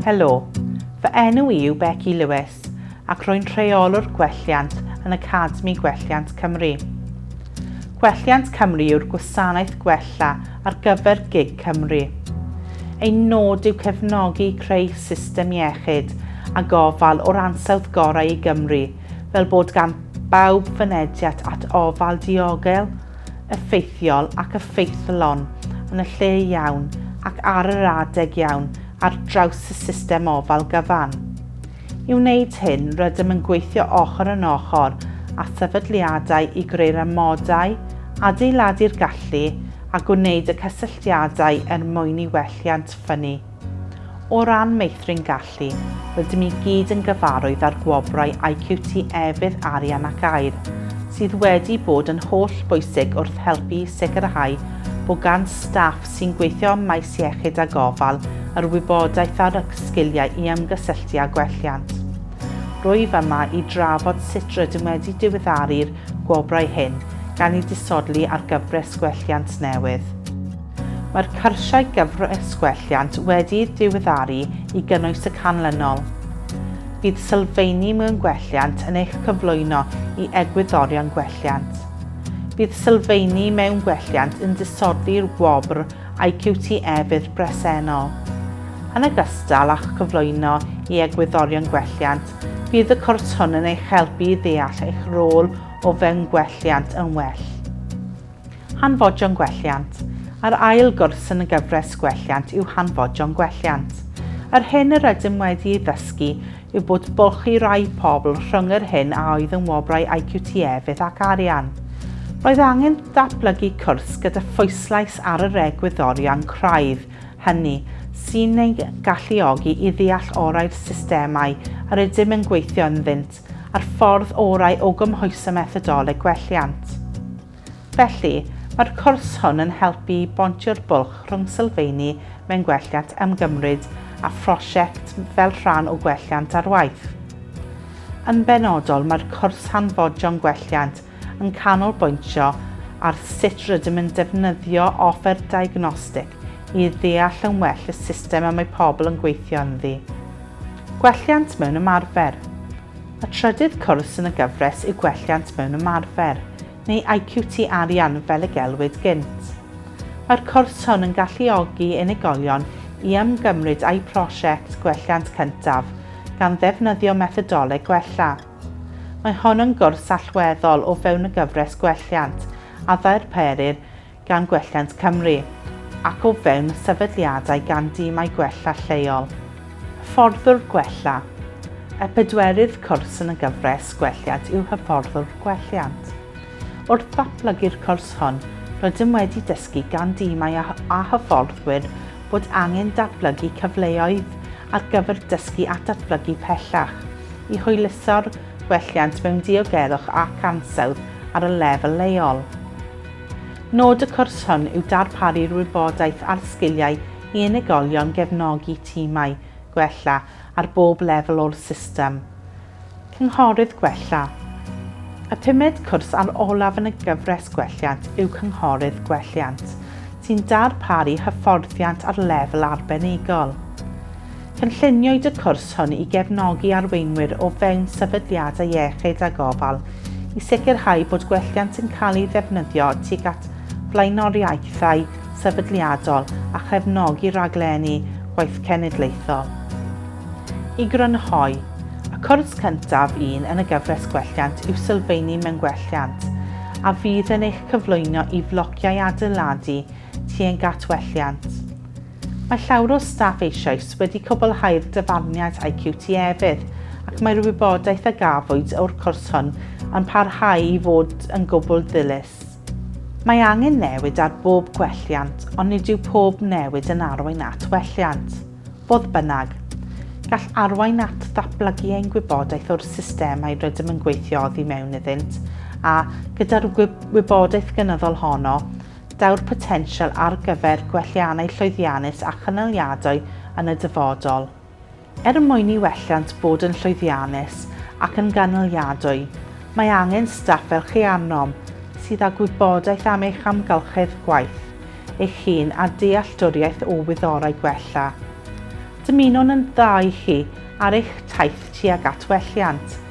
Helo, fy enw i yw Becky Lewis ac rwy'n rheolwr gwelliant yn Academi Gwelliant Cymru. Gwelliant Cymru yw'r gwasanaeth gwella ar gyfer gig Cymru. Ein nod yw cefnogi creu system iechyd a gofal o'r ansawdd gorau i Gymru fel bod gan bawb fynediad at ofal diogel, effeithiol ac effeithlon yn y lle iawn ac ar yr adeg iawn ar draws y system ofal gyfan. I wneud hyn, rydym yn gweithio ochr yn ochr â sefydliadau i greu'r amodau, adeiladu'r gallu a gwneud y cysylltiadau er mwyn i welliant ffynnu. O ran meithrin gallu, rydym i gyd yn gyfarwydd â'r gwobrau IQT Efydd Arian ac Aer, sydd wedi bod yn hollbwysig wrth helpu i sicrhau bod gan staff sy'n gweithio ym maes iechyd a gofal yr wybodaeth ar y sgiliau i ymgysylltu â gwelliant. Rwyf yma i drafod sut rydym wedi diweddaru'r gwobrau hyn gan eu disodli ar gyfres gwelliant newydd. Mae'r cyrsiau gyfres gwelliant wedi'u diweddaru i gynnwys y canlynol. Bydd sylfeini mewn gwelliant yn eich cyflwyno i egwyddorion gwelliant. Bydd sylfeini mewn gwelliant yn disodli'r wobr IQT e-fydd bresennol. Yn ogystal â'ch cyflwyno i egwyddorion gwelliant, bydd y cwrs hwn yn eich helpu i ddeall eich rôl o fewn gwelliant yn well. Hanfodion gwelliant. Yr ail gwrs yn y gyfres gwelliant yw Hanfodion gwelliant. Yr hyn yr ydym wedi ei ddysgu yw bod bwlch i rai pobl rhwng yr hyn a oedd yn wobrau IQT efydd ac arian. Roedd angen datblygu cwrs gyda phwyslais ar yr egwyddorion craidd hynny sy'n ein galluogi i ddeall orau'r systemau yr ydym yn gweithio ynddynt a'r ffordd orau o gymhwyso methodoleg gwelliant. Felly, mae'r cwrs hwn yn helpu i bontio'r bwlch rhwng sylfeini mewn gwelliant ymgymryd a phrosiect fel rhan o gwelliant ar waith. Yn benodol, mae'r cwrs Hanfodion Gwelliant yn canolbwyntio ar sut rydym yn defnyddio offer diagnostig i ddeall yn well y system y mae pobl yn gweithio ynddi. Gwelliant mewn ymarfer. Y trydydd cwrs yn y gyfres yw Gwelliant mewn Ymarfer, neu IQT Arian fel y gelwid gynt. Mae'r cwrs hwn yn galluogi unigolion i ymgymryd â'u prosiect gwelliant cyntaf, gan ddefnyddio methodoleg gwella. Mae hon yn gwrs allweddol o fewn y gyfres Gwelliant, a ddarperir gan Gwelliant Cymru ac o fewn y sefydliadau gan dimau gwella lleol, hyfforddwr gwella, y pedwerydd cwrs yn y gyfres Gwelliant yw Hyfforddwr Gwelliant. Wrth ddatblygu'r cwrs hwn, rydym wedi dysgu gan dimau a, a hyfforddwyr bod angen datblygu cyfleoedd ar gyfer dysgu a datblygu pellach i hwyluso'r gwelliant mewn diogelwch ac ansawdd ar y lefel leol. Nod y cwrs hwn yw darparu'r wybodaeth a'r sgiliau i unigolion gefnogi timau gwella ar bob lefel o'r system. Cynghorydd Gwella Y pumed cwrs a'r olaf yn y gyfres Gwelliant yw Cynghorydd Gwelliant, sy'n darparu hyfforddiant ar lefel arbenigol. Cynlluniwyd y cwrs hwn i gefnogi arweinwyr o fewn sefydliadau iechyd a gofal i sicrhau bod gwelliant yn cael ei ddefnyddio tuag at flaenoriaethau sefydliadol a chefnogi rhaglenni gwaith cenedlaethol. I grynhoi, y cwrs cyntaf un yn y gyfres Gwelliant yw Sylfeini mewn Gwelliant, a fydd yn eich cyflwyno i flociau adeiladu tuag at welliant. Mae llawer o staff eisoes wedi cwblhau'r dyfarniad a'u QTEfydd ac mae'r wybodaeth a gafwyd o'r cwrs hwn yn parhau i fod yn gwbl ddilys. Mae angen newid ar bob gwelliant ond nid yw pob newid yn arwain at welliant. Fodd bynnag, gall arwain at ddatblygu ein gwybodaeth o'r systemau rydym yn gweithio oddi mewn iddynt a, gyda'r wybodaeth gynyddol honno, daw'r potensial ar gyfer gwelliannau llwyddiannus a chynaliadwy yn y dyfodol. Er mwyn i welliant fod yn llwyddiannus ac yn gynaliadwy, mae angen staff fel chi arnom, sydd â gwybodaeth am eich amgylchedd gwaith eich hun a dealltwriaeth o wyddorau gwella. Dymunwn yn dda i chi ar eich taith tuag at welliant,